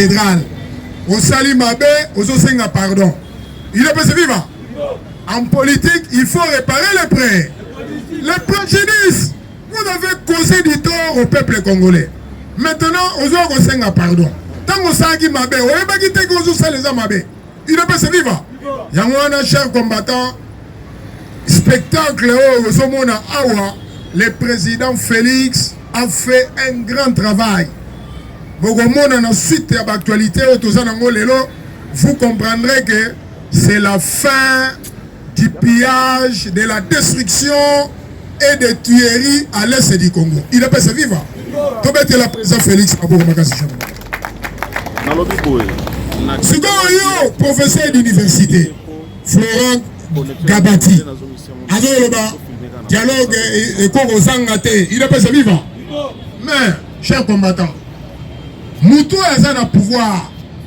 Cathedrale. Osali mabe, ozosenga pardon. Il est possible viva. En politique, il faut réparer les prêts. Les préjudices. Vous avez causé du tort au peuple congolais. Maintenant, ozo kosenga pardon. Tango saki mabe, oyebaki te que ozo sala eza mabe. udps viva yango wana cher combattant spectacle oyo ozomona awa le président félix a fait un grand travail bokomona na suite ya baactualité oyo toza nango lelo vous comprendrez que c'est la fin du pillage, de la destruction et de tueries à l'est du Congo. Il est passé vivant. tobetela président félix maboko makasi jambo nalobi boye sikoyo professeur d'université florent gabati azoloba dialogue e, ekoki kozanga te il est passé vivant mais cher combattant moto oyo aza na pouvoir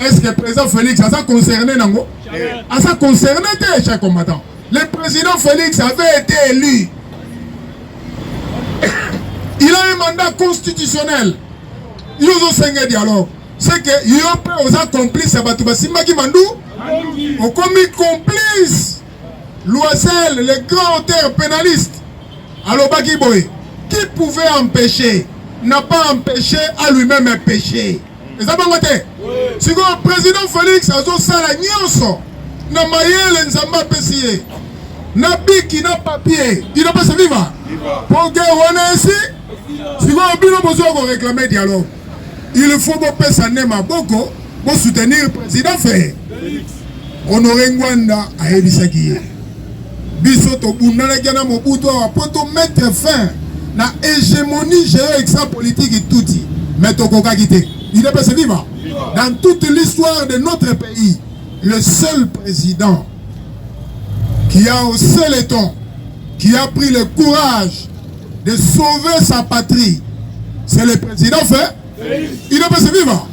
Est ce que président Félix aza concerné nango? Aza concerné te cher combattant. Le président Félix avait été élu. Il a un mandat constitutionnel. Yo ozosenga dialogue. C'est que yo mpe oza complice ya bato basimbaki mandu okomi complice loisel le grand auteur pénaliste alobaki boye qui pouvait empêcher n'a pas empêché à lui-même un péché eza bongo te sikoyo president felix azosala nyonso na mayele nzambe apesi ye na biki na papier il pas se viva mpo guerre wana esi sikoyo bino bozoya koreklame dialogue il faut bopesa nde maboko bosoutenir président feye honore ngwanda ayebisaki ye Biso tobundalaki na Mobutu awa mpo to mettre fin na hegemonie geo-extra politique Tutsi, mais tokokaki te. Udps viva! Dans toute l'histoire de notre pays, le seul président qui a au seul éton, qui a pris le courage de sauver sa patrie, c'est le président fait idps viva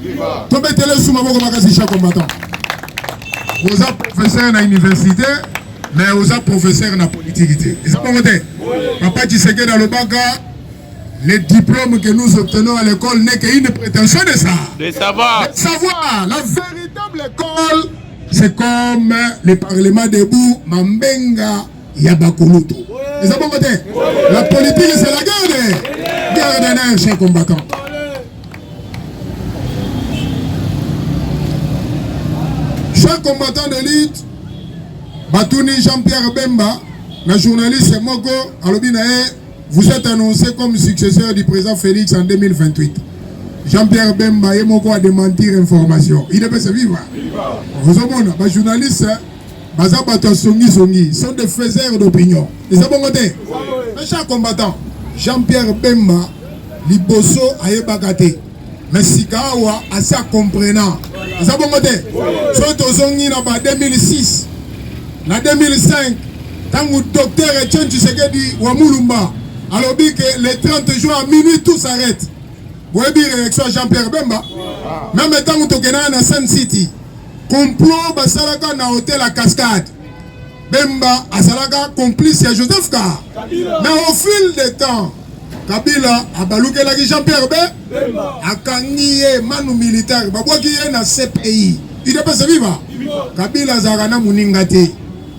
tobetela esu maboko makasi cha combattant oza professeur na université mais oza professeur na politiki te eza bongo te papa tshisekedi alobaka les diplômes que nous obtenons à l'école n'est qu'une prétention de ça de savoir de savoir la véritable école c'est comme le parlement debout mambenga ya bakulutu eza bongo te la politique c'est la guerre guerre de nerf chez combattant chaque combattant de lutte batuni Jean-Pierre Bemba na journaliste moko alobi na ye vous êtes annoncé comme successeur du président Félix en 2028 Jean-Pierre Bemba ye moko a démentir information il est viva ozomona ba journaliste baza bato ya songisongi sont des faiseurs d'opinion eza bongo te un char combattant jean pierre bemba liboso ayebaka te mais sika awa asi acomprena eza bongo te soki tozongi na ba 2006 na 2005 ntango docteur etienne tshisekedi wa mulumba alobi ke le 30 juin à minuit tout s'arrête boyebi réaction ya jean pierre bemba meme ntango tokendaka na sun city Complot basalaka na hotel à cascade. Bemba azalaka complice ya Joseph Ka. Mais au fil des temps, Kabila abalukelaki Jean-Pierre Bemba akangi ye manu militaire babwaki ye na CPI. Il est pas viva. Kabila azalaka na moninga te.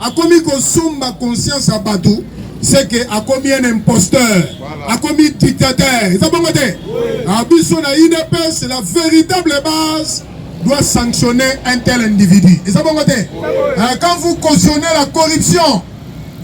Akomi kosomba conscience ya bato seke akomi un imposteur akomi dictateur eza bongo te a biso na udps la véritable base doit sanctionner un tel individu eza bongo te euh, quand vous cautionnez la corruption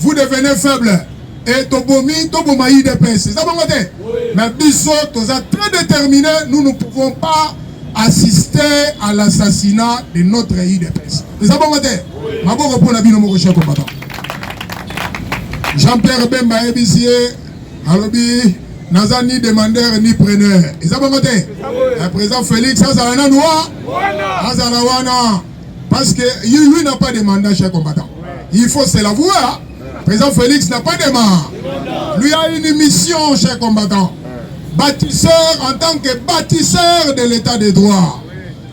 vous devenez faible et tobomi toboma udps eza bongo te mais biso toza très déterminé nous ne pouvons pas assister à l'assassinat de notre udps eza bongo te maboko mpo na bino moko chef combattant jean pierre bemba ayebisi ye alobi naza ni demandeur ni preneur eza bongo te eh, président félix azala nanu wa azala wana parce que lui n'a pas demandé chef combattant il faut se l'avouer président félix n'a pas demandé lui a une mission chef combattant bâtisseur en tant que bâtisseur de l'état de droit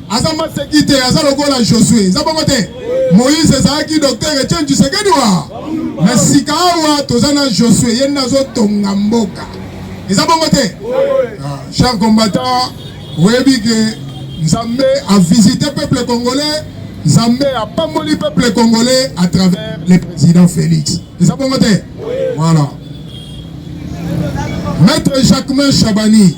aza maseki te aza lokola josue eza bongo te moïse ezalaki docteur etienne tshisekedi wa na sika awa toza na josue ye nde azotonga mboka eza bongo te ah, cher combattant oyebi ke nzambe avisite peuple congolais nzambe apamboli peuple congolais à travers le président félix eza bongo te voilà maître jacquemin chabani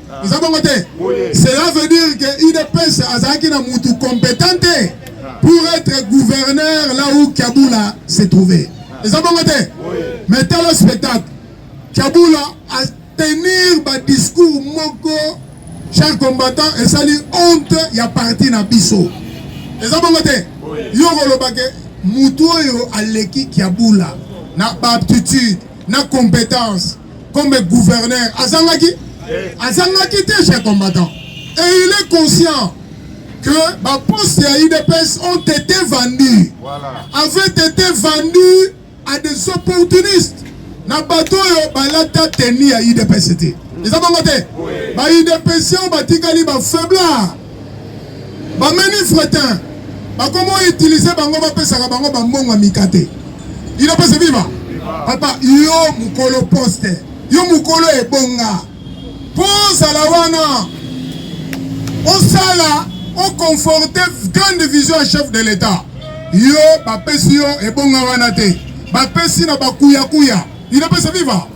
eza bongo te cela veut dire que udps azalaki na mutu competent te pour être gouverneur là où kabula se trouvait eza bongo te mais tala spectacle kabula a tenir badiscours moko cher combattant esali honte ya parti na biso eza bongo te yo kolobake mutu oyo aleki kabula na baaptitude na competence comme gouverneur azangaki azangaki te chez combattant et il est conscient que ba postes ya udps ont été vendus voilà. avaient été vendus à des opportunistes na bato oyo balata teni ya udps te eza bango te ba udps oyo batikali ba faiblard Ba meni fretin bakomo utiliser bango bapesaka bango bambongo ya mikate ino pese viva papa yo mokolo poste yo mokolo ebonga mpo ozala wana osala oconforte grande vision ya chef de l'etat yo bapesi yo ebonga wana te bapesi na bakuyakuya ino pese viva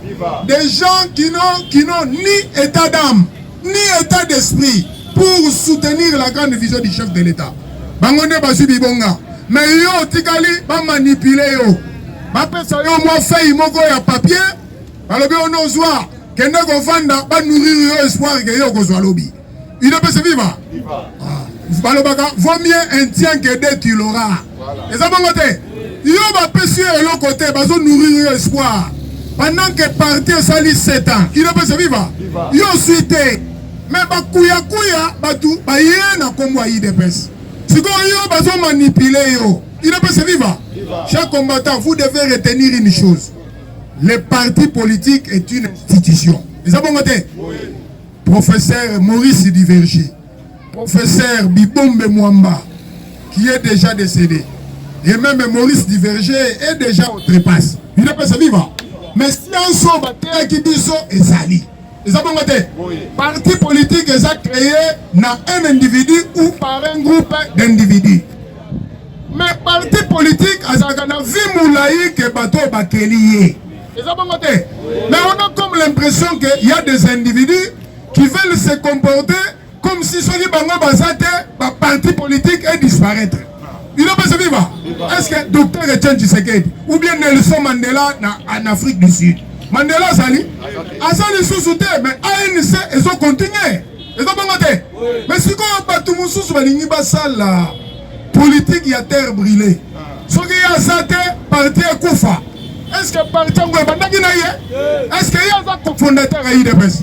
des gens qui n'ont qui n'ont ni état d'âme ni etat d'esprit pour soutenir la grande vision du chef de l'État. Bango nde bazwi bibonga, mais yo otikali bamanipule yo, bapesa yo mwa fei moko ya papier, balobi ono ozwa kende kovanda, banourrir yo espoir ke yo okozwa lobi. Udps viva! Ah, balobaka vaut mieux un tien que deux tu l'auras. eza bongo te yo bapesi yo eloko te bazo nourrir yo espoir pendant que parti esali 7 ans inopesa viva yo osui te me bakuyakuya bato baye na nkombo ya idps sikoyo yo bazo manipule yo inopesa viva chaque combattant vous devez retenir une chose le parti politique est une institution eza bongo te professeur maurice divergie Professeur Bibombe Mwamba, qui est déjà décédé, et même Maurice Diverger est déjà au trépasse. Il n'est pas vivant. Mais si un son batteur qui dit ça, et sali. eza bongo te parti politique eza créé na un individu ou par un groupe d'individu mais parti politique azalaka na vie molai ke bato oyo bakeli ye eza bongo te mais on a comme l'impression que y a des individus qui veulent se comporter comme si soki bango baza te ba parti politique est disparaître bino pesa viva est ce que docteur etienne tshisekedi ou bien nelson mandela na en afrique du sud mandela azali aza lisusu te mais anc ezo continue eza bongo te mais sikoyo bato mosusu balingi basala politike ya terre brûlée soki ye aza te parti ekufa est ce que parti yango ebandaki na ye est ce que ye aza cofondateur ya udps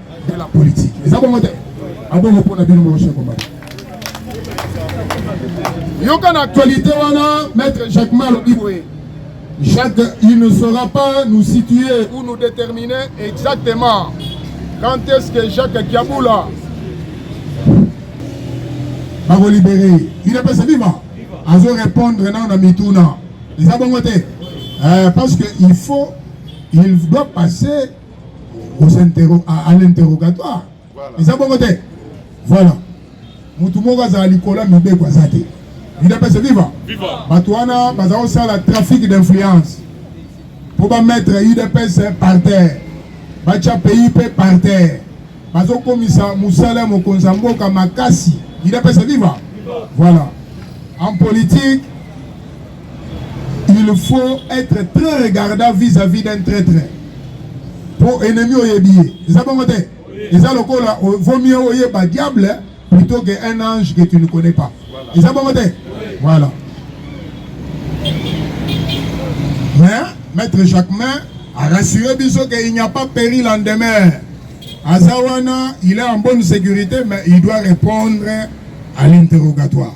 de la politique eza bongo te abongo mpo na bino mokosi ekomaka yoka na actualité wana maître jacques ma alobi boye jacques il ne saura pas nous situer ou nous déterminer exactement quand est ce que jacques kiabula bakolibere il apesa viva azo répondre nao na mituna eza bongo te eh, parce que il faut il doit passer à l'interrogatoire eza bongo te voilà motu moko azala likolo ya mibeko aza te udps viva bato wana baza kosala trafic d'influence mpo bamettre udps par terre batya pays mpe par terre bazokomisa mosala ya mokonzi ya mboka makasi udps viva voilà en politique il faut être très regardant vis-à-vis d'un traitre mpo ennemi oyebi ye eza bongo te eza lokola vaut mieux oyeba diable plutôt que un ange que tu ne connais pas eza bongo te voilà mais maître jacquemin a rassuré biso que il n'y a pas péril en demeure aza wana il est en bonne sécurité mais il doit répondre à l'interrogatoire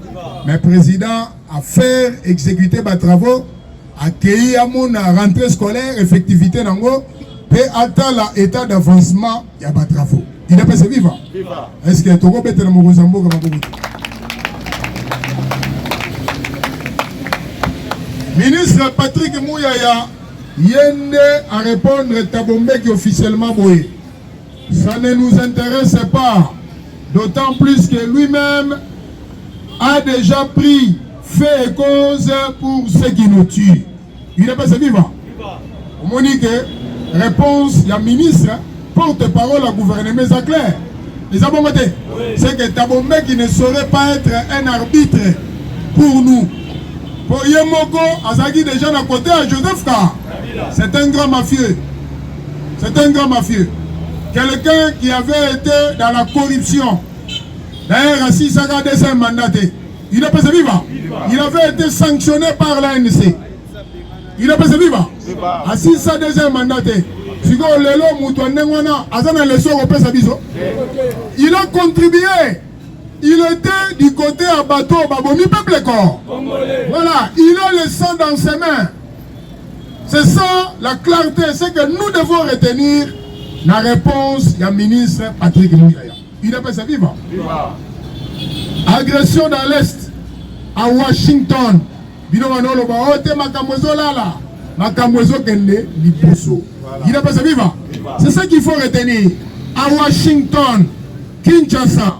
Mais président a faire exécuter ba travaux accueilli à mon rentrée scolaire effectivité nango pe atala état d'avancement ya ba travaux. Il est passé vivant. Est-ce que toko betela mokonzi ya mboka maboko ministre Patrick Mouyaya yende a répondre Tabombeki officiellement boye Ça ne nous intéresse pas, d'autant plus que lui-même a déjà pris fait et cause pour ceux qui nous tuent. Il n'est pas vivant. omoni ke réponse ya ministre porte parole ya gouvernement eza claire eza bongo te c'est que tabombeki ne saurait pas être un arbitre pour nous mpo ye moko azalaki déjà na kote ya joseph ka c'est un grand mafieux C'est un grand mafieux. Quelqu'un qui avait été dans la corruption. D'ailleurs, à Sisaka, deuxième mandat. Il a passé vivant. Il avait été sanctionné par l'ANC. Il a passé vivant. À Sisa, deuxième mandat. sikoyo lelo moto ya ndenge wana aza na leso kopesa biso il a contribué il était du côté ya bato babomi peuple corps voilà il a le sang dans ses mains C'est ça la clarté, c'est que nous devons retenir la réponse du ministre Patrick Mouyaya. Il appelle ça vivant. Viva. Agression dans l'Est à Washington. Bino manolo ba ote oh, makambo ezolala makambo ezokende liboso. Il appelle ça vivant. C'est ça qu'il faut retenir. À Washington, Kinshasa,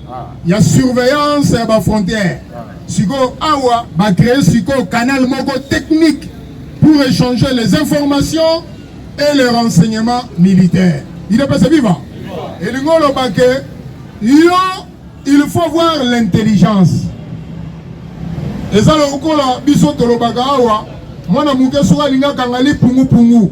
ya surveillance ya ba frontières sikoyo awa ba créer sikoyo canal moko technique pour échanger les informations et les renseignements militaires idepese viva elingi oloba ke yo il faut voir l'intelligence eza lokola biso tolobaka awa mwana moke soki alingi akanga lipungupungu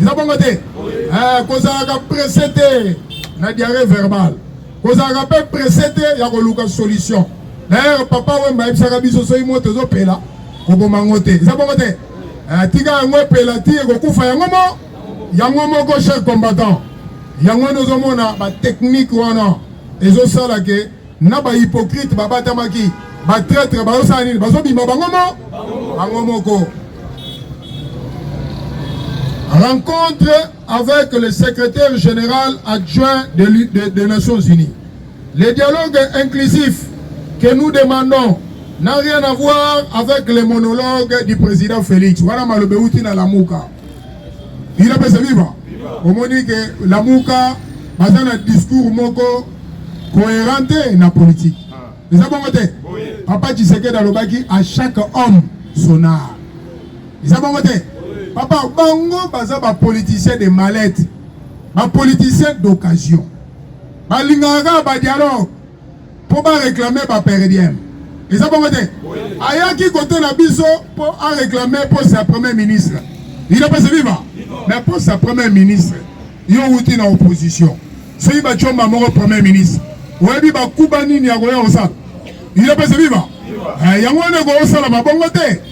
eza bongo te eh, kozalaka presse te na diarrhée verbale kozalaka mpe presse te ya koluka solution d'ailleurs papa wemba ayebisaka biso soki moto ezopela koboma yango te eza bongo te eh, tika yango epela ti ekokufa yango mo yango moko cher combattant yango nozomona batechnike wana ezosala ke na ba hypocrite babatamaki ba traitre bazosala nini bazobima bango mo bango moko rencontre avec le secrétaire général adjoint des de, de Nations Unies le dialogue inclusif que nous demandons n'a rien à voir avec les monologues du président Félix wana malobe uti na lamuka Udps viva. Omoni ke Lamuka baza na discours moko cohérente na politique. Eza bongo te. Papa Tshisekedi alobaki à chaque homme son art. Eza bongo te. Papa bango baza ba politiciens de mallette. Ba politiciens d'occasion. Balingaka ba dialogue mpo ba reclame ba per diem eza bongo te ayaki kote na biso mpo areklame poste ya premier ministre idapese viva mais poste ya premier ministre yo wuti na opposition soki bacomba moko premier ministre oyebi bakuba nini ya koya kosala idapese viva eh, yango wana ekosala mabongo te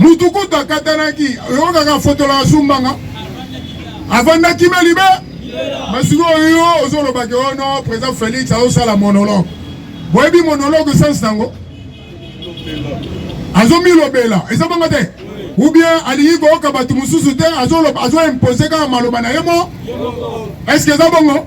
mutu kutu akatanaki yo kaka afotola asumbanga avandaki me libe me sikoyo yo ozolobaki o oh no président félix azosala monologue boyebi monologue sense nango azomilobela eza bongo te ou bien alingi koyoka bato mosusu te azoimpose kaka maloba na ye mo estce eza bongo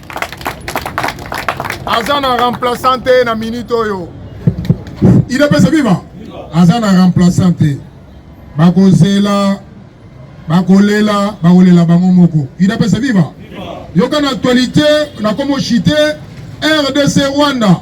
aza na remplaçant te na minute oyo il epesa viva aza na remplaçant te bakozela bakolela bakolela bango moko il epesa viva yoka na actualité na komo chite rdc rwanda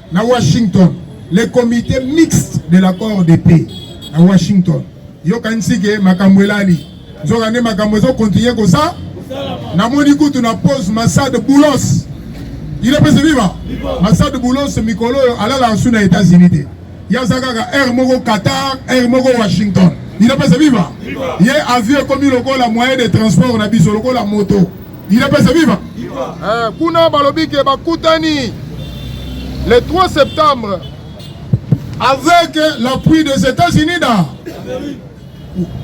na Washington le comité mixte de l'accord de paix na Washington yokanisi ke makambo elali nzoka nde makambo ezokontinue kosa namoni kutu na pose masade boulos il est pese viva masade boulos mikolo oyo alalaka su na états-unis te ye aza kaka aire moko qatar aire moko washington il est pese viva ye avion ekomi lokola moyen de transport na biso lokola moto idps viva eh, kuna balobi ke bakutani le 3 septembre avec l'appui des états-unis da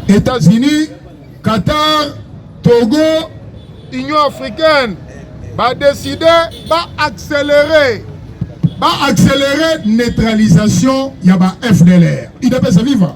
états-unis qatar togo union africaine badeside baaccéléré baaccéléré neutralisation ya ba fdlr idps viva